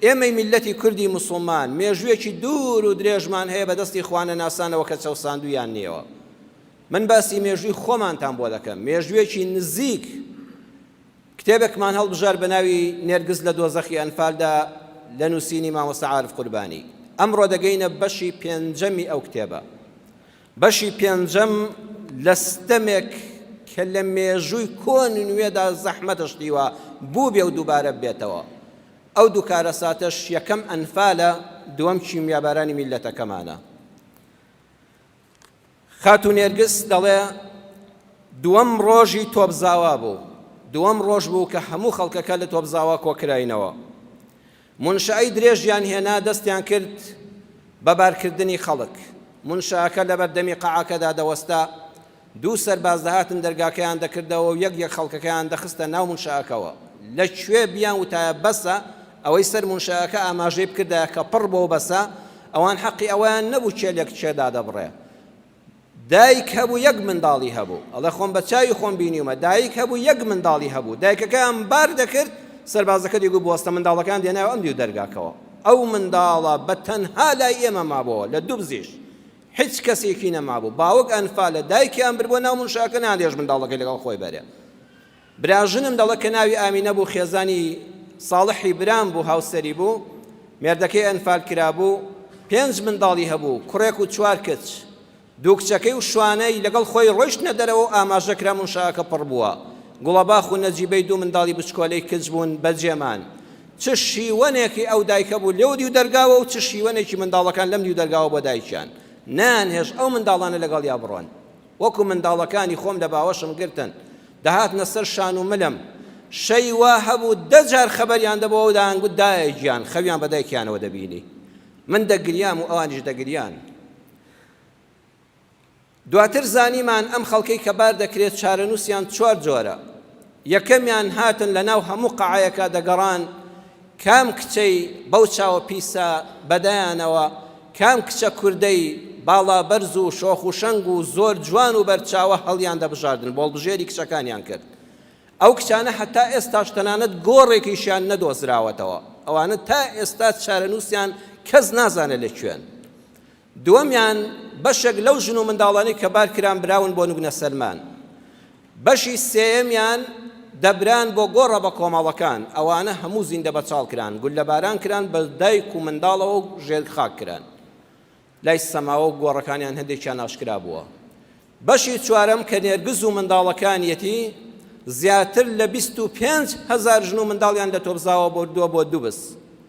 ئێمەی میللەتی کوردی موسڵمان مێژوویەکی دوور و درێژمان هەیە بە دەستی خوانەناسانەوە کە چەوساندوویاننیەوە. من باسی مێژووی خۆمانتان بۆ دەکەم، مێژوویەکی نزیک کتێبێکمان هەڵبژارد بە ناوی نێرگز لە دۆزەخی ئەنفالدا لە نووسینی مامۆستا عارف قوربانی. ئەمڕۆ دەگەینە بەشی پێنجەمی ئەو کتێبە. بەشی پێنجەم لە ستەمێک کە لە مێژووی کۆن و نوێدا زەحمەتە شتیوە بووبێ و دووبارە ببێتەوە. ئەو دوو کارەساتەش یەکەم ئەنفالە دووەم کیمیابارانی میللەتەکەمانە. خاتوو نێرگس دەڵێ دووەم ڕۆژی تۆپزاوا بوو. دووەم ڕۆژ بوو کە هەموو خەڵکەکە لە تۆپزاوا کۆکراینەوە. مونشەی درێژیان هێنا دەستیان کرد بە بارکردنی خەڵک مونشەکە لەبەردەمی قەعەکەدا دەوەستا دوو سەرباز دەهاتن دەرگاکەیان دەکردەوە و یەک یەک خەڵکەکەیان دەخستە ناو مونشەکەوە لە کوێ بیان وتایە بەسە ئەوەی سەر مونشەکە ئاماژەی بکردایە کە پڕ بۆ بەسە ئەوان حەقی ئەوەیان نەبوو کێلێک کێ دادەبڕێ دایک هەبوو یەک منداڵی هەبوو، ئەڵێ خۆم بە چاوی خۆم بینیومە، دایک هەبوو یەک منداڵی هەبوو، دایکەکەیان بار دەکرد، سەربازەکە دەیگوت بوەستە، منداڵەکەیان دەهێنایەوە ئەم دیو دەرگاکەوە، ئەو منداڵە بە تەنها لای ئێمە مابۆوە، لە دوبزیش هیچ کەسێکی نەمابوو، باوک ئەنفالە، دایکیان بردبوە ناو منشاکە نەیان دەیەشت منداڵەکەی لەگەڵ خۆی بەرێ. براژنم دەڵێت کە ناوی ئامینە بوو خێزانی ساڵحی برام بوو هاوسەری بوو مێردەکەی ئەنفال کرابوو پێنج منداڵی هەبوو کوڕێک و چوار کچ دوو کچەکەی و شوانەی لەگەڵ خۆی ڕۆیشتنە دەرەوە و ئاماژە کرا منشاکە پڕ بووە گوڵەباخ و نەجیبەی دوو منداڵی بچکۆلەی کچ بوون بەجێمان چ شیوەنێکی ئەو دایکە بوو لەو دیو دەرگاوە و چ شیوەنێکی منداڵەکان لەم دیو دەرگاوە بۆ دایکیان نانهێش ئەو منداڵانە لەگەڵیا بڕۆن وەکو منداڵەکانی خۆم لە باوەشم گرتن دەهاتنە سەر شان و ملم، شەوی وا هەبوو دە جار خەبەریان دەبۆوە و دەیانگوت دایە گیان، خەویان بە دایکیانەوە دەبینی. من دەگریام و ئەوانیش دەگریان. دواتر زانیمان ئەم خەڵکەی کە بار دەکرێت چارەنووسیان چوار جۆرە، یەکەمیان هاتن لە ناو هەموو قەعەیەکا دەگەڕان، کام کچەی بەو چاوە پیسە بەدەیانەوە کام کچە کوردەی باڵا بەرز و شۆخ و شەنگ و زۆر جوان و بەرچاوە هەڵیان دەبژاردن بۆڵبژێری کچەکانیان کرد ئەو کچانە هەتا ئێستاش تەنانەت گۆڕێکیشیان نەدۆزراوەتەوە ئەوانە تا ئێستا چارەنووسیان کەس نازانە لە کوێن دووەمیان بەشێک لەو ژن و منداڵانەی کە بار کران براون بۆ نوگنە سەلمان. بەشی سێیەمیان دەبران بۆ گۆڕە بە کۆمەڵەکان، ئەوانە هەموو زیندە بەچاڵ کران، گوللەباران کران، بە دایک و منداڵەوە و ژێر خاک کران. لای سەماوە و گۆڕەکانیان هەندێکیان ئاشکرا بووە. بەشی چوارەم کە نێرگز و منداڵەکانیەتی، زیاتر لە بیست و پێنج هەزار ژن و منداڵیان لە تۆپزاوە بردووە بۆ دوبز.